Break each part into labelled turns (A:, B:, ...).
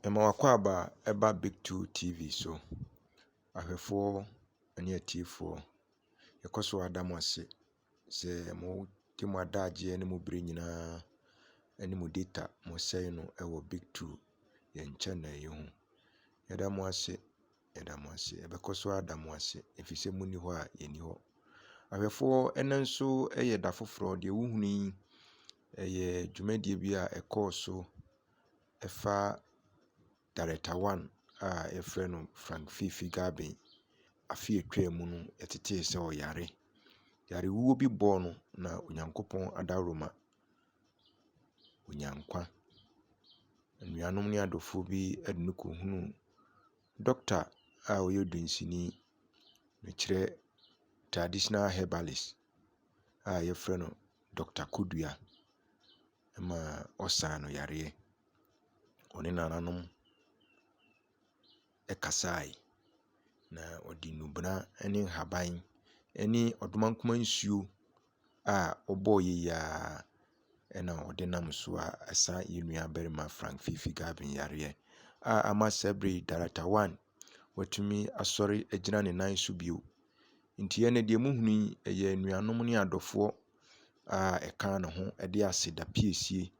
A: Yɛma w'akwaaba ɛba Bic two TV so. Ahwɛfoɔ ɛne atiefoɔ, yɛkɔ so ara da mo ase sɛ mo de mo adagyeɛ ne mo berɛ nyinaa ɛne mo data mo sɛe no ɛwɔ Bic two yɛn channel yi ho. Yɛda mo ase. Yɛda mo ase. Yɛbɛkɔ so ada mo ase, ɛfiri sɛ monni hɔ a yɛnni hɔ. Ahwɛfoɔ ɛnnɛ nso yɛ da foforɔ. Deɛ wohunu yi, ɛyɛ dwumadie bi a ɛkɔɔ so ɛfa Director one a yɛfrɛ no Frank Fiifi Garbin. Afe a ɛtwaa mu no, yɛtetee sɛ ɔyare. Yarewuo bi bɔɔ no na Onyankopɔn adaworoma. ɔnya nkwa. Anuanom ne adɔfoɔ bi de no rekɔhunu dɔkta a ɔyɛ dunsini. Mekyerɛ traditional herbalist a wɔfrɛ no Dɔkta Kodua ma ɔsaa no yareɛ. Ɔne nananom. kasae, na ɔde nnubɛna ne nhaban ne ɔdomankoma nsuo a ɔbɔɔ yie yi ara na ɔde nam so a ɛsa yɛn nuabarima Frank Fifi Gavin yareɛ a ama saa berɛ yi Daratawane watumi asɔre agyina ne nan so bio. Nti ɛnnɛ deɛ mohunu yi, ɛyɛ anuanom ne adɔfoɔ a ɛka ne ho de aseda piesie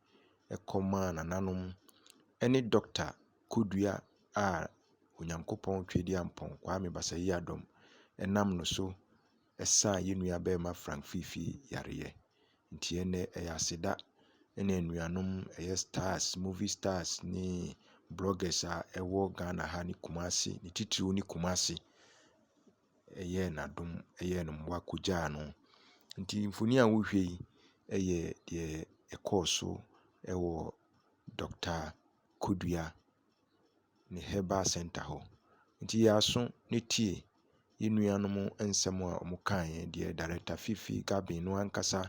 A: kɔmaa nananom ne dɔkota. Kodua a Onyankopɔn Tweduampɔn Kwame Basah-Yiadom nam no so saa yɛn nua barima Frank Fifi yareɛ. Nti ɛnnɛ ɛyɛ aseda ɛna anuanom ɛyɛ stars, movie stars ne bloggers a ɛwɔ Ghana ha ne Kumasi, ne titiriw ne Kumasi ɛyɛɛ no adom, ɛyɛɛ no mmoa kɔgyaa no. Nti mfoni a wohwɛ yi ɛyɛ deɛ ɛkɔɔ so ɛwɔ Dɔkta. kɔdua ne herbal centre hɔ. Nti yɛ aso ne tie yɛn nuanom nsɛm a wɔkaeɛ, deɛ Director Fifi Garbin no ankasa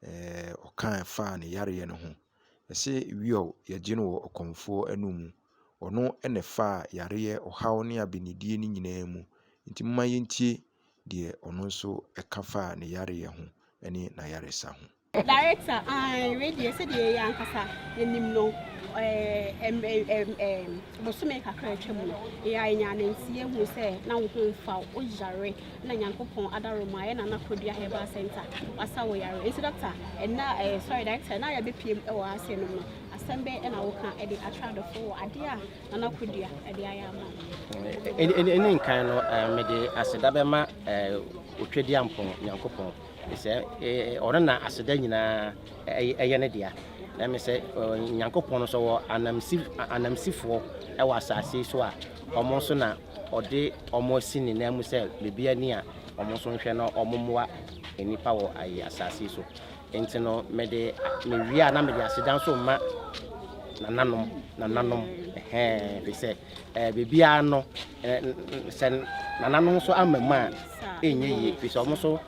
A: ɛɛɛ ɔkaa faa ne yareɛ no ho. Ɔse wiɔɔ yɛgye no wɔ ɔkɔmfoɔ anum. Ɔno na ɛfaa yareɛ, ɔhaw ne abenedie no nyinaa mu. Nti momma yɛntie deɛ ɔno nso ɛka faa ne yareɛ ho ne n'ayaresa ho. Director, Ae, wei deɛ sɛdeɛ yɛyɛ ankasa yɛnim no eh, em, em, em, em, bosome kakra a atwam no yɛa yɛnyaa nanteɛ hu sɛ na wo ho mfa wo woyare na nyankopɔn adaroma ayɛ na nakɔdua herbal center wasa wo yare nti dɔkta ɛna eh, sorry director na yɛbɛpiem wɔ ase nom no asɛm bɛn ɛna woka ɛde atra adɔfo wɔ adeɛ a na nakɔdua ɛde ayɛ ama wo ɛne nkan no eh, mede aseda bɛma eh, otwadiampɔn nyankopɔn Mesɛ Ɔno na aseda nyinaa yɛ Ne dea. Na mesɛ Nyankopɔn nso wɔ anamsi anamsifoɔ wɔ asase yi so a wɔn nso na ɔde wɔn asi ne nan mu sɛ baabi ani a wɔn nso nhwɛ na wɔn mmoa nnipa wɔ ayi asase yi so. Nti no mede mewie a na mede aseda nso ma nananom nananom ɛhɛn ɛfiri sɛ eh, biribiara no eh, sɛ nananom nso ama mu a ɛnyɛ yie firi sɛ ɔmo nso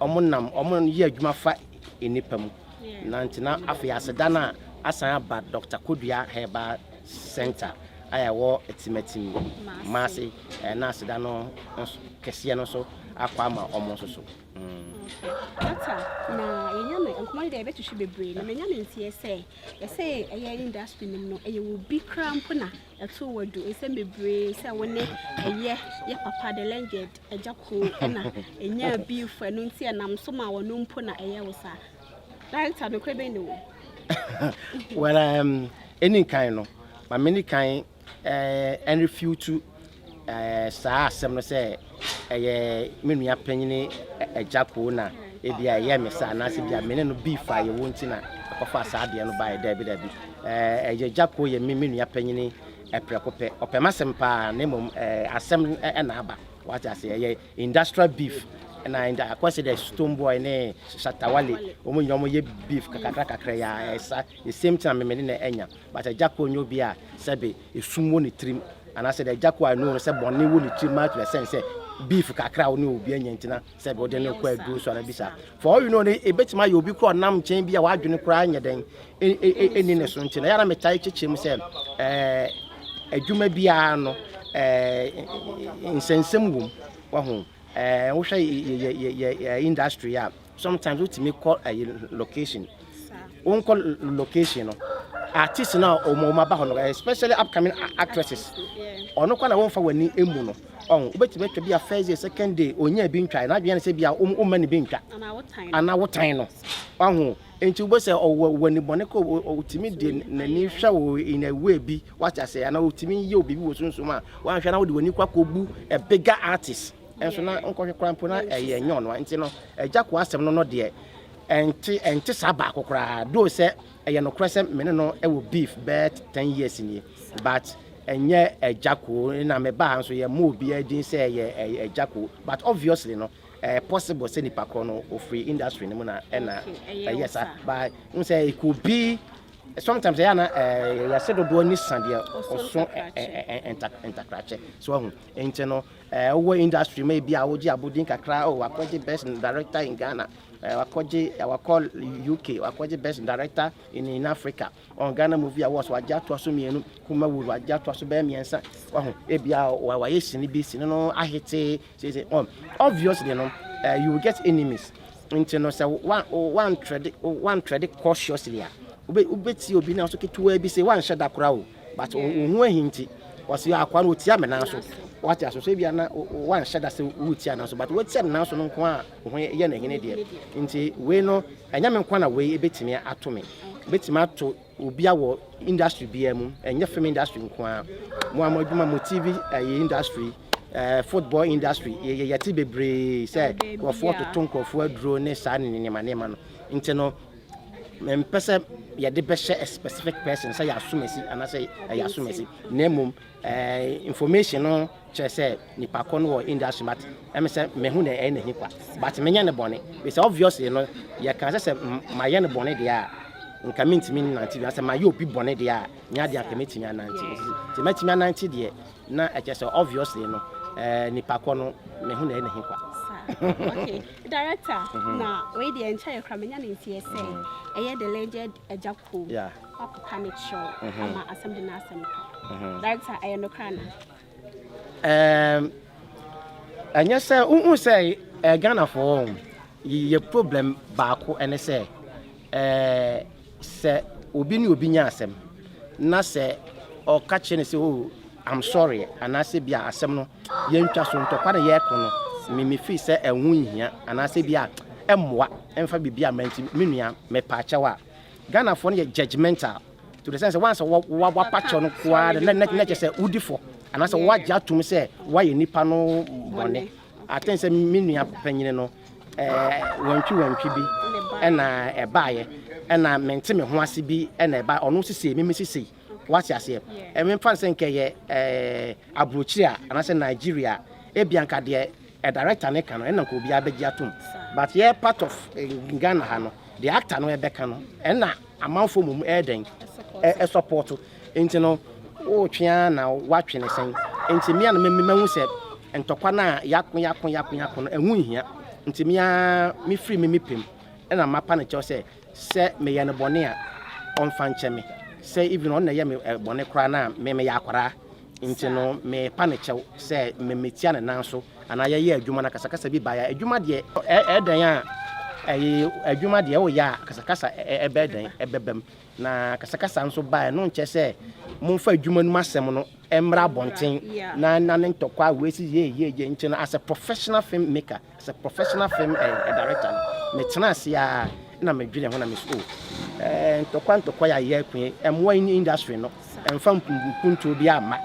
A: ɔmo nam ɔmo yɛ adwuma fa nnipa mu na nti na afei aseda no a asan aba dr kodua herbal center a ɛwɔ timatim maase eh, na aseda no nso kɛseɛ no nso akɔ ama ɔmo nso so mm. dɔkta na yɛnya no nkɔmmɔ no deɛ yɛbɛtwehwe bebree na manya no nteɛ sɛ Yɛsɛ ɛyɛ industry nom no ɛyɛ wo bi kra mpo na ɛto wɔ du ɛsɛ bebree sɛ wo ne ɛyɛ yɛ papa the legend ɛgya koo ɛna ɛnya bi fo ɛno nti ɛnam so ma wɔn mpo na ɛyɛ wo saa director no kora bɛn ne wo well um, ɛni nkan no ma mene kan ɛrefiutu saa asɛm no sɛ ɛyɛ me nua panyin agya koo na ebi a ɛyɛ me saa anaasɛ bi a me ne no bi fa yɛwɔ nti na ɔfa saa adeɛ no baeɛ daabi daabi ɛyɛ agya koo yɛ me me nua panyin ɛprɛko pɛ ɔpɛ m'asɛm paa na mmom asɛm ɛna aba wate ase ɛyɛ industrial beef na ɛnda akɔsi dɛ stone boy ne shatawale wɔn nyinaa wɔn yɛ beef kakra kakra yɛ ɛsa the same time me ne na ɛnya But Agyako nyɛ obi a sɛbe esum wɔ ne tirim anaasɛ dɛ Agyako I know no sɛ bɔne wɔ ne tirim maa to the sense sɛ beef kakra a wo ne obi anya nti na sɛbe wode no rekɔ aduro so anaa bi saa. For all you know no ebetumi ayɛ obi koraa a ɔnam nkyɛn bi a w'adwene koraa nyɛ dɛn nni ne so nti na ɛyɛ a na metae kyekyɛ mu sɛ ɛɛ adwuma biara no ɛɛ nsɛnsɛm wom wahu ɛɛ wohwɛ yɛ yɛ yɛ industry a Sometimes wotumi kɔ ayi location. Wonkɔ location no, artist no a wɔn wɔn aba hɔ no, especially upcoming actresses. Ɔno kɔ na wɔnfa w'ani emu no. Ɔn, wobɛtumi atwa bi a first day, second day, ɔnya bi ntwa. N'adwene ne sɛ bi a womma ne bi ntwa. Anaa wotan no. Wahu. Nti wobɛ sɛ ɔwɔ w'ani bɔne kɔ, ɔtumi de n'ani hwɛ wo in a way bi, wate ase, anaa ɔtumi yɛ wo biribi wɔ sunsum a, wanhwɛ na wode w'ani kɔ akɔbu a bigger artist. Nso na nkɔhwɛ koraa mpo na ɛyɛ ɛnyɛ ɔno a nti no agya ko asɛm no no deɛ ɛnte ɛnte saa baako koraa do sɛ ɛyɛ nokorɛ sɛ me ne no ɛwɔ beef bɛt ten years nie but ɛnyɛ agya ko na me baa nso yɛ mo obiara din sɛ ɛyɛ ɛyɛ agya ko but obviously no ɛyɛ possible sɛ nipa korɔ no ofiri industry no mu na ɛna ɛyɛ saa but n sɛ it could be sometimes ɛyɛ na ɛyɛ sɛ dodoɔ ne sa deɛ ɔso ntakrakyɛ so ahu Nti no eh wo wɔ industry ma ebi a wo gye abodin kakra oh wakɔ gye best director in Ghana eh wakɔ gye eh wakɔ UK wakɔ gye best director in in Africa ɔn Ghana movie awards wagye atoa so mmienu Kuma Wuru wagye atoa so bɛyɛ mmiɛnsa wahu ebi a wayɛ sini bi sini no ahete sese ɔn obviously no eh you get enemies nti no sɛ wa wa ntrɛde wa ntrɛde cautiously a wobɛ wobɛtie obi na so ketewa bi se wanhyɛ da kora o. but wo ho ahi nti wɔsi akoa no otia me nan so wate aso so ebia na wanhyɛ da sɛ wotia nan so but wotia ne nan so no nko a wo ho yɛ na hene deɛ nti wei no ɛnyɛ me nko na wei ebetumi ato me ebetumi ato obi a wɔ industry biara mu ɛnyɛ film industry nko a mo a mo adwuma mo tv ɛyɛ eh, industry eh, football industry yɛte bebree sɛ nkurɔfoɔ toto nkurɔfoɔ aduro ne saa ne nneɛma nneɛma no nti no Mempɛ sɛ yɛde bɛhyɛ a specific person sɛ yɛ asomasi anaasɛ ɛyɛ asomasi na mmom eh, information no kyerɛ sɛ nipa kɔ no wɔ industry but ɛmi sɛ mehu na ɛyɛ n'ahi kwa but menyɛ ne bɔne bisɛ obviously no yɛka sɛ sɛ mayɛ ne bɔne deɛ a nka mentumi nnante bi asɛ mayɛ obi bɔne deɛ a nyɛ adeɛ anka mɛtumi anante nti mɛtumi anante deɛ na ɛkyɛ sɛ obviously no eh, nipa kɔ no mehu na ɛyɛ n'ahi kwa okay. Director na wei deɛ nkyɛ yɛ kora menya ne nteɛ sɛ ɛyɛ the legend agya kuom wakɔka ne kyerɛw ama asɛm de n'asɛm kɔ director ɛyɛ no kora na um, ɛnyɛ sɛ wohu sɛ eh, ghanafoɔ yɛ problem baako ɛne sɛ eh, sɛ obi ne obi nya asɛm na sɛ ɔka kyerɛ ne sɛ oh, I'm sorry anaasɛ bia asɛm no Yɛn ntwaso ntɔkwa na yɛreko no, me mefii sɛ ɛho nhia anaasɛ bi a ɛmmoa ɛmfa biribi amma nti, me nua mepaa kyɛw a. Ghanafoɔ no yɛ judgemental to the sense sɛ once wɔapa kyɛw no koraa no na na kyerɛ sɛ wodi fɔ anaasɛ wɔagye atom sɛ woayɛ nnipa no bɔne. I think sɛ me nua panyini no ɛɛ wantwi wantwi bi ɛna ɛbaeɛ ɛna mente me ho ase bi ɛna ɛbaeɛ ɔno sisei me me sisei. Wate aseɛ? Ɛ, memfa no sɛ nka ɛyɛ, ɛɛ, aburokyire a, anaasɛ Nigeria a, ebia nka deɛ ɛ, director no ka no, ɛnna nka obiara bɛgye atom. But yɛ part of ɛ, Ghana ha no, deɛ actor no rebɛka no, ɛnna amanfoɔ mmom ɛyɛ dɛn? Ɛ, ɛsɔpɔɔto. Nti no, woretwe ara na woatwe no sɛn? Nti me ara na me, mahu sɛ ntɔkwa no a yɛako, yɛako, yɛako, yɛako no, ɛho nhia. Nti me ara mefiri me, me pɛ mu, ɛnna mapa no kyɛw sɛ, Sɛ me yɛ no bɔne a ɔnfa nkyɛ me sɛ even ɔno na ɛyɛ me bɔne koraa na me me yɛ akwadaa nti no me pa ne kyɛw sɛ me me tia ne nan so anaa yɛ yɛ adwuma na kasakasa bi baeɛ a adwuma deɛ ɛdɛn a ɛyɛ adwuma deɛ ɛwɔ yɛ a kasakasa ɛbɛ dɛn ɛbɛbam na kasakasa nso baeɛ no nkyɛ sɛ momfa adwuma no mu asɛm no mmra abɔnten na na ne ntɔkwa a wɔasi yɛ yɛ yɛ nti no as a professional film maker As a professional film director no, metsenaa ase ara na medwenee ho na mese oh, ntɔkwa ntɔkwa yi a yɛko yi, ɛmmoa industry no, ɛmfa mpuntuo biara mma.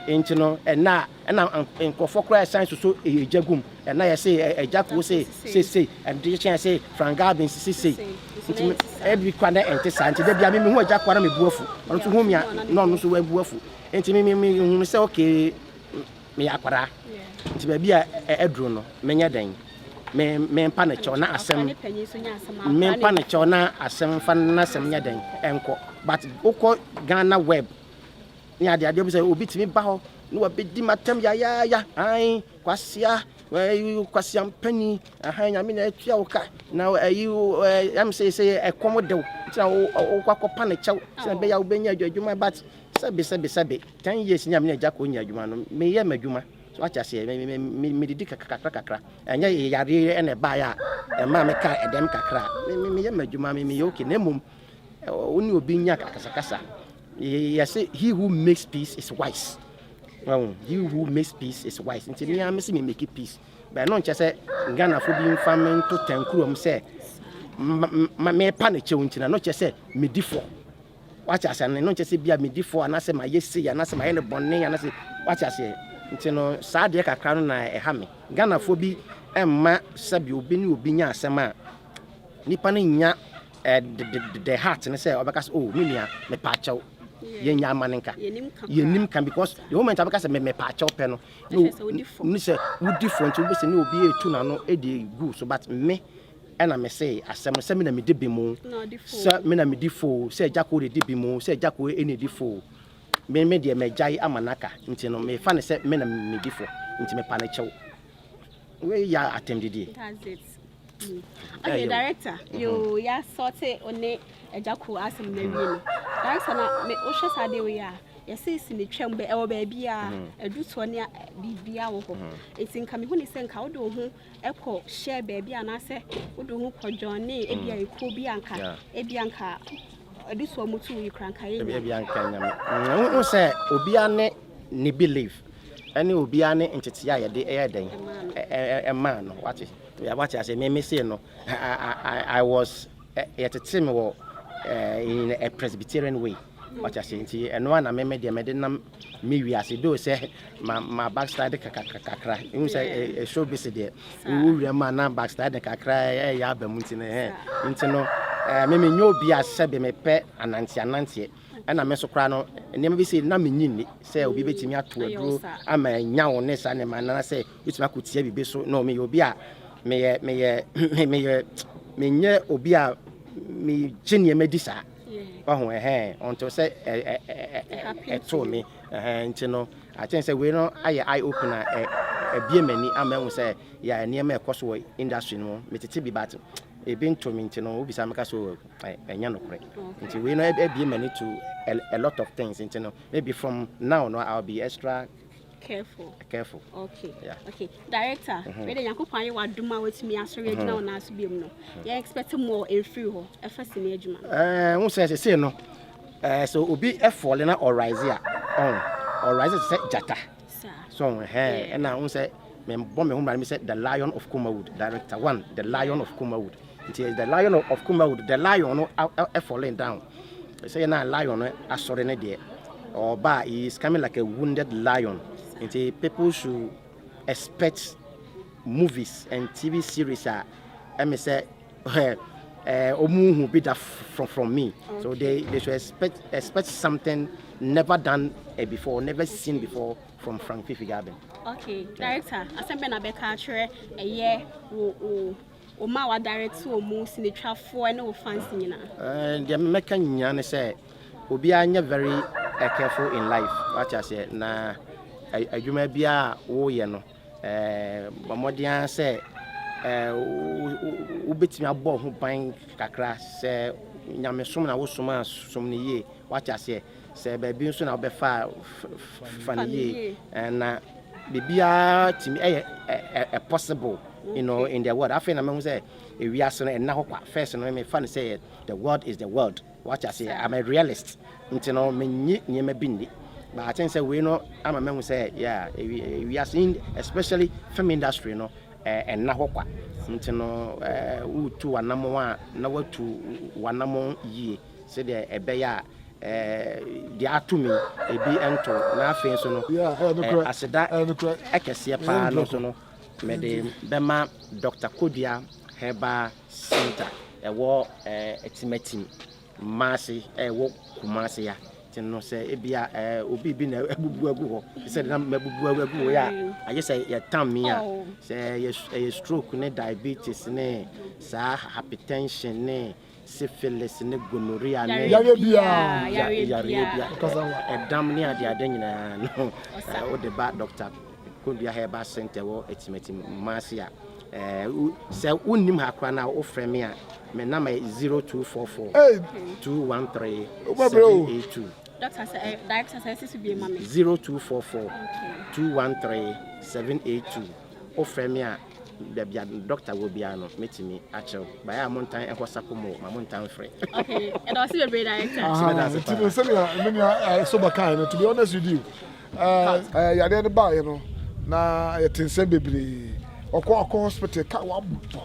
A: Nti no, ɛnnɛ a ɛna nkorɔfoɔ koraa ɛsan soso egya gu mu, ɛna yɛse egya koo se sesei, ɛde kyɛn se Frank Garbins se sei. Nti ɛbi koraa na ɛnte saa, nti da biara me mehu egya koo na mebu afu, ɔno nso hu me a na ɔno nso wabu afu. Nti me me me hunu sɛ okay, meyɛ akwadaa nti baabi a aduru no menyɛ dɛn me mempa ne kyɛw na asɛm mempa ne kyɛw na asɛm fa na asɛm nyɛ dɛn ɛnkɔ but wokɔ Ghana web ne ade adeɛ bi sɛ obi tumi ba hɔ ne wabɛdi matam yayaaya an kwasia kwasia mpani ahan nyame na atua wo ka na ayi ɛm sɛ sɛ ɛkɔm dew nti na wokɔ akɔpa ne kyɛw sɛ bɛyɛ wobɛnya adwuma but sɛbe sɛbe sɛbe Ten years ni a me ne agya kɔ nya adwuma no me yɛ m'adwuma so wate aseɛ me me me me didi kakra kakra kakra ɛnyɛ yɛ yareɛ ɛna ɛbaa yɛ a ɛmaa me kaa ɛdɛm kakra me me me yɛ m'adwuma me me yɛ okay na mmom wo ne obi nya akasakasa yɛ se he who makes peace is wise well he who makes peace is wise nti me a me se me make peace bɛn no nkyɛ sɛ Ghanafo bi nfa me nto tankurom sɛ mepa ne kyɛw nti na no kyɛ sɛ medi fɔ Wate aseɛ? Ɛno nkyɛ sɛ bia medi fɔ anaasɛ mayɛ sei anaasɛ mayɛ no bɔne anaasɛ wate aseɛ? Nti no saa adeɛ kakra no na ɛha me. Ghanafoɔ bi mma sɛbi obi ne obi nya asɛm a nipa no nya eh, the, the, the, the heart no sɛ ɔbɛka sɛ oh me nua mepa akyɛw yɛn nya ama no nka yɛnim ka because the moment abɛka sɛ mepa akyɛw pɛ no ne sɛ wodi fɔ nti wobɛsɛ ne obi ɛtu n'ano ɛdi gu so but me Ɛna me see asɛm no sɛ me na medi bem oo, sɛ me na medi fɔ oo, sɛ Gyako redi bem oo, sɛ Gyako na edi fɔ oo, me me deɛ magyae ama no aka, nti no mefa no sɛ me na medi fɔ, nti mepa no kyɛw. Wei yɛ atɛmdidie. That's it. Mm. Okay, Ɛyɛ o. director, Mhm. yoo, yɛ asɔte one agya ko asɛm no awie no. Director na me wohwɛ saa deɛ wei a, yɛse si ne twam bɛ ɛwɔ baabiara, Mhm. adu toɔ ne a- biribiara wɔ hɔ. Mhm. Nti nka mehu ne sɛ nka wode wo ho kɔ hyɛ baabi anaasɛ wode wo ho kɔ dwɔne ebi a mm. ekuo bi anka ebi anka ɛde so ɔmo tu yi kura nka yɛ nyame ebi anka nyame mm, ɛho sɛ obiara ne ne belief ɛne obiara ne ntetee a yɛde ɛyɛ dɛn ɛmaa no wate wate ase mmemme se no i was yɛtete me wɔ in a presbyterian way wate ase nti ɛno a na mmemme deɛ mɛde nam Me wiase do sɛ ma ma backslide kakra kakra ehu sɛ ɛ show bi se deɛ ewu wura mu a na backslide kakra ɛyɛ aba mu nti no hɛ nti no ɛɛ me me nyɛ obi a sɛ bi me pɛ anante ananteɛ ɛna me nso koraa no nneɛma bi se na me nyi ni sɛ obi betumi ato aduro ama anya wo ne saa nneɛma anana sɛ betumi akotia bibi so no me yɛ obi a me yɛ me yɛ me yɛ me nyɛ obi a me gye nneɛma di saa. Wahu ɛhɛn, ɔnto sɛ ɛtoo me ɛhɛn nti no I think sɛ wei no ayɛ eye opener ɛbie m'ani ama mahu sɛ yɛ nneɛma ɛkɔ so wɔ industry no mu metete bi but ebi nto me nti no wobisa meka sɛ ɛnyɛ nokorɛ nti wei no ɛbie m'ani to a lot of things nti no maybe from now no I'll be extra careful. careful. okay yeah. okay director mm -hmm. wei de nyankopɔn ayɛ wadom a watumi asɔre agyina mm-hmm. wo nan so biom no mm-hmm. yɛ expect more ɛmfiri hɔ ɛfa si ne adwuma eh, wo sɛ sesei no eh, sɛ obi ɛfɔle na ɔrise a ɔrise sɛ gyata so ɛna wo sɛ mebɔ me ho mmara me sɛ the lion of comawood director one the lion of comawood Nti the lion of Kumawood the lion no falling down sɛ yɛ na lion no asɔre ne deɛ ɔba a he is coming like a wounded lion nti people should expect movies and TV series a ɛmi sɛ ɔmu eh, hu bi da from from me so they they should expect expect something never done eh, before never seen before from Frank Fifi Gabin. Okay, director, asɛm bɛ na bɛka akyerɛ ɛyɛ wo wo Wɔn a wadare te wɔn mu, sinitwafoɔ ne wo fans nyinaa. Eh, deɛ mɛka nyinaa ne sɛ obiara nyɛ very eh, careful in life wate aseɛ na eh, adwuma biara a woyɛ no eh, bɔ mmɔden ara sɛ eh, wo- wo- wobɛtumi abɔ ho ban kakra sɛ nyamesom na wosom a som no yie wate aseɛ Sɛ baabi nso na wobɛfa a, fa no yie. Na biribiara tumi ɛyɛ possible, you know, in the world. Afei na mahu sɛ ewiase no ɛnna hɔ kwa. First no mefa no sɛ the world is the world. Wate ase? I'm a realist. Nti no menyi nneɛma bi nni. But I think sɛ wei no ama mahu sɛ yeah, ewiase especially film industry no ɛnna hɔ kwa. Nti no wotu w'anamɔn a na watu w'anamɔn yie. Sɛdeɛ ɛbɛyɛ a deɛ ato me yi bi nto wo. Na afei nso no, aseda kɛseɛ pa ara no nso no, mede bɛma Dɔkta Kodua Herbal Centre ɛwɔ Atimatim, Maase, ɛwɔ Kumase ha. Nti no sɛ ebia obi bi na abubu agu hɔ te sɛ deɛ na mabubu agu hɔ yi a, agye sɛ yɛtam me a, sɛ ɛyɛ stroke ne diabetes ne saa hypertension ne Syphilis ne gonorrhea ne. Yareɛ biara. Yareɛ biara. Ɛdam ne adeade nyinaa no, wode ba Dɔkta Kondua Herbal Centre wɔ Atimati Kumasi a, sɛ wonnim ha koraa no a, wofrɛ me a, me number yɛ 0244 213 782. Dɔkta sɛ ɛyɛ director sɛ ɛsi so bie ma me. 0244 213 782. Wofrɛ me a. Baabi a dɔkta wɔ biara no, mɛtumi akyerɛ wo. Baeɛ a montan nkɔ sako mu o, ma montan mfrɛ. Okay, ɛda ɔse bebree director. Aha, nti no sɛdeɛ me nua eh, Soba kae no, to be honest with you, eh, eh, yadeɛ no baeɛ no, na yɛte nsɛm bebree. Ɔkɔ ɔkɔ hospital, ka wabɔ,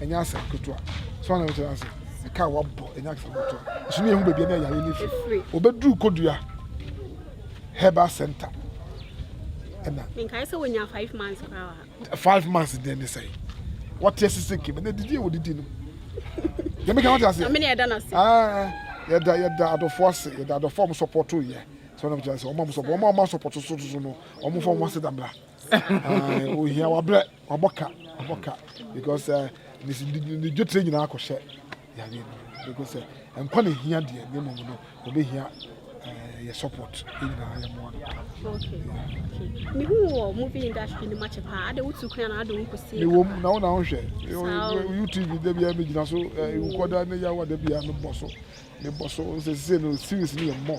A: ɛnyɛ asɛm ketewa. So na mekyerɛ ase, ɛka wabɔ, ɛnyɛ asɛm ketewa. Ɛso ne yɛhu baabi na yadeɛ no firi. Ɔbɛduru Kodua Herbal Center ɛna. Menkae sɛ wɔnya five months koraa wɔ ha. five months deɛ ne sɛ wɔte ase sɛ kɛmɛ na didi a wɔdidi no yɛmɛ kan wɔte ase yɛda yɛda adɔfo ase yɛda adɔfo a wɔn sɔpɔto yɛ sɛ wɔn kyerɛ sɛ wɔn a wɔn sɔpɔto wɔn a wɔn asɔpɔto so so no wɔn fɔ wɔn ase da mla ohia wabrɛ wabɔ ka wabɔ ka because ne dwetire nyinaa akɔhyɛ. yareɛ no because sɛ nkwa na ehia deɛ ne mmom no obehia eh, yɛ support yɛ nyinaa yɛ mmoa no paa. mehu wɔ movie industry no makyɛ paa ade wotu kwan na ade wo nkɔsie mewɔ mu na wo na wohwɛ Saw. youtube da biara megyina so eh, wokɔda ne yawa da biara mebɔ so mebɔ so sɛ sɛ no series no yɛ mmɔ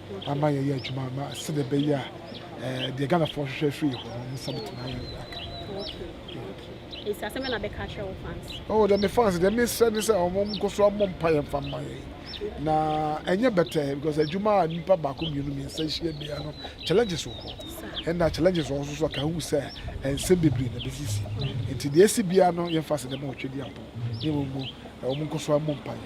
A: ama yɛyɛ adwuma ama sɛdeɛ ɛbɛyɛ a eh, deɛ ghanafoɔ hwehwɛ afiri yɛ hɔ no ɔmo nsa bɛtumi ayɛ aka nti asɛm na bɛka kyerɛ wo fans oh dɛ me fans dɛ mesrɛ ne sɛ ɔmo nkɔ so mmɔ mpa yɛ mfa mma yɛ na ɛnyɛ bɛtɛ because adwuma a nipa baako mmienu mmiɛnsa hyia bia no challenges wɔ hɔ ɛna challenges wɔ hɔ nso so aka hu sɛ nsɛm bebree na bɛsisi nti deɛ ɛsi bia no yɛmfa sɛ dɛ ma ɔtwa di apɔ ne mmom ɔmo nkɔ so mmɔ mpa yɛ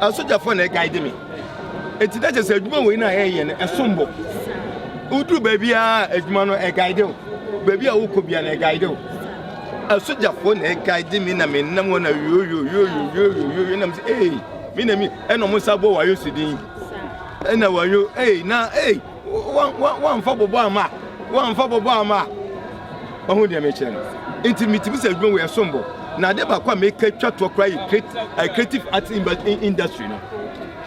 A: Asogyafoɔ na ɛguide me. Eti na kyerɛ sɛ adwuma wɔ yi na ɛyɛ no ɛsom bo. Woduru baabi a adwuma no ɛguide wo. Baabi a wokɔ bia na ɛguide wo. Asogyafoɔ na ɛguide me na menam hɔ na yoyoyoyoyoyoyo nam sɛ ee me na mi ɛna ɔmo nsa bɔ wayo si din. Ɛna wayo ee na ee. Wamfa bɔbɔ amma wamfa bɔbɔ amma wahu deɛ mekyerɛ no nti metumi sɛ adwuma wei ɛsom bo na ade baako a meka twa toɔ koraa yɛ eh, creative arts industry no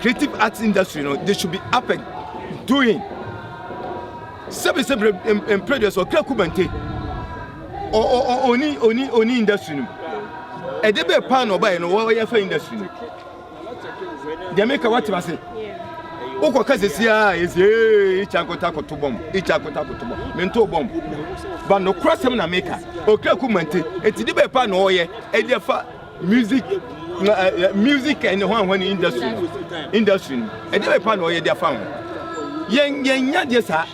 A: creative arts industry no they should be up and doing sɛbisɛbi mpere deɛ sɛ ɔkra kubante oni oni oni industry no ɛde bɛɛ paa na ɔbaeɛ no wɔyɛ fa industry no deɛ meka watim ase wokɔka sesiaa ɛsie ikya nkɔta koto bɔm ikya nkɔta koto bɔm mento bɔm ba nokora sɛm na meka ɔkra ku mante ɛti de bɛɛ pa na ɔyɛ ɛde afa music uh, music and the one industry industry ɛde bɛɛ pa na ɔyɛ de afa ho yɛn yɛn nya deɛ saa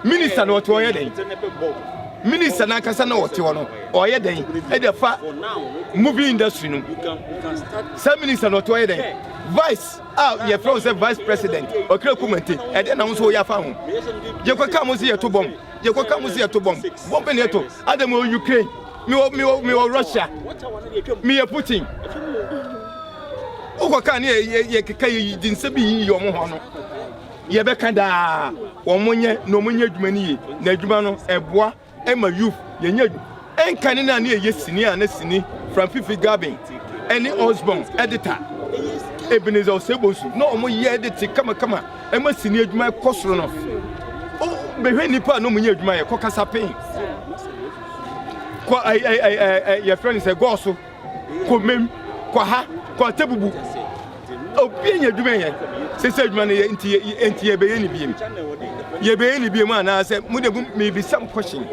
A: minister no ɔte ɔyɛ dɛn minister no ankasa na ɔte hɔ no ɔyɛ dɛn ɛde fa movie industry no sɛ minister no ɔte ɔyɛ dɛn vice a yɛfrɛ wo sɛ vice president ɔkra kumante ɛdeɛ na wo nso woyɛ afa ho yɛkɔka mo sɛ yɛto bɔm yɛkɔka mo sɛ yɛto bɔm bɔm ne ɛto adam wɔ ukraine mewɔ mewɔ mewɔ russia meyɛ putin wokɔka ne yɛkeka yɛyi di nsɛ bi yiyi ɔmo hɔ no Deɛ ɛbɛka daa, wɔn nyɛ na wɔn nyɛ adwuma no yie, na adwuma no ɛboa ɛma youth yɛn nyɛ adwuma. Ɛnka ne na ne ɛyɛ sini a na sini Frank Fifi Garbin ɛne Osborne Edita Ebenezer Osei Bonsu na wɔn yɛ ɛde te kama kama ɛma sini adwuma ɛkɔ soro no. O bɛhwɛ nnipa a na wɔn nyɛ adwuma yɛ kɔ Kasapen, kɔ ɛɛ ɛɛ ɛɛ yɛfrɛ ne sɛ Gɔɔso. kɔ mem kɔ ha kɔ atabubu obi anya adwuma yɛ sɛ sɛ adwuma no yɛ nti yɛ nti yɛbɛyɛ ne biem yɛbɛyɛ ne biem anaasɛ mo de mebisa mo question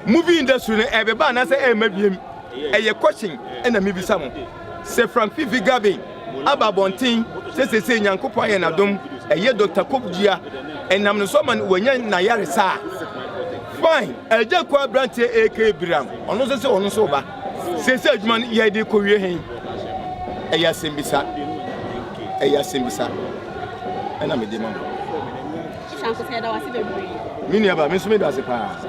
A: movie industry no ɛbɛba anaasɛ ɛma biem ɛyɛ question ɛna mebisa mo sɛ frank fifi gavin aba abɔnten sɛ seesei Nyankopɔn ayɛ no adom, ɛyɛ Dɔkta Kopdua, ɛnam ne so ama no wanya n'ayaresa a, fine, Agya Kɔ aberanteɛ AK Biram, ɔno nso sɛ ɔno nso ba, seesei adwuma no yɛde rekɔwie he, ɛyɛ asɛmbisa, ɛyɛ asɛmbisa, ɛna mede ma mo. Shanko sɛ yɛda wase bebree. Me nua ba, me nso meda ase paa.